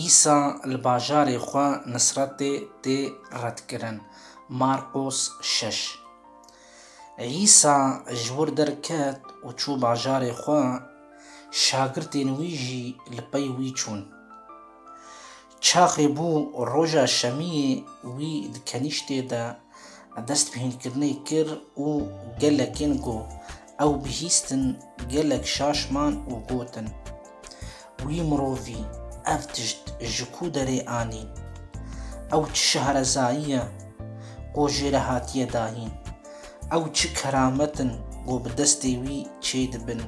Îsa li bajarê xwe Nisretê tê redkirin, Marqos şeş. Îsa ji wir derket û çû bajarê xwe, şagirtên wî jî li pey wî çûn. Çaxê bû roja şemiyê wî di kenîştê de dest bi hînkirinê kir û gelekên ku ew bihîstin gelek şaş man û gotin, Wî mirovî ev tişt ji ku derê anî? Ew çi şahrezayî ye ku jê re hatiye dahîn? Ew çi keramet in ku bi destê wî çêdibin?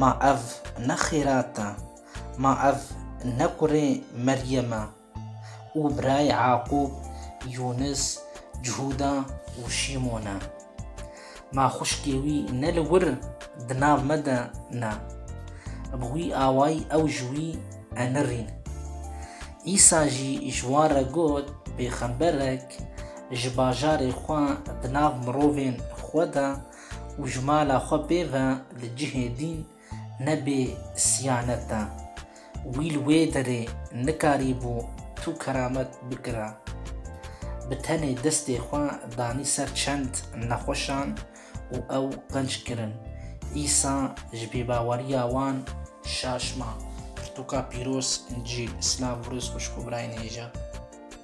Ma ev ne xêrat e? Ma ev ne kurê Meryem e û birayê Eaqûb, Yûnis, Cihûda û Şîmon e. Ma xwişkê wî ne li wir di nav me de ne. Bi wî awayî ew ji wî enirîn. Îsa jî ji wan re got, Pêxemberek ji bajarê xwe di nav mirovên xwe de û ji mala xwe pê ve li cihê dîn Nebê siyaneta wî li wê derê nikarîbû tu keramet bikira. Bi tenê destê xwe danî ser çend nexweşan û ew qenc kirin. Îsa ji bêbaweriya wan şaş ma. Pirtûka pîroz, Încîl, Silav Rûz xwişk û birayên hêja.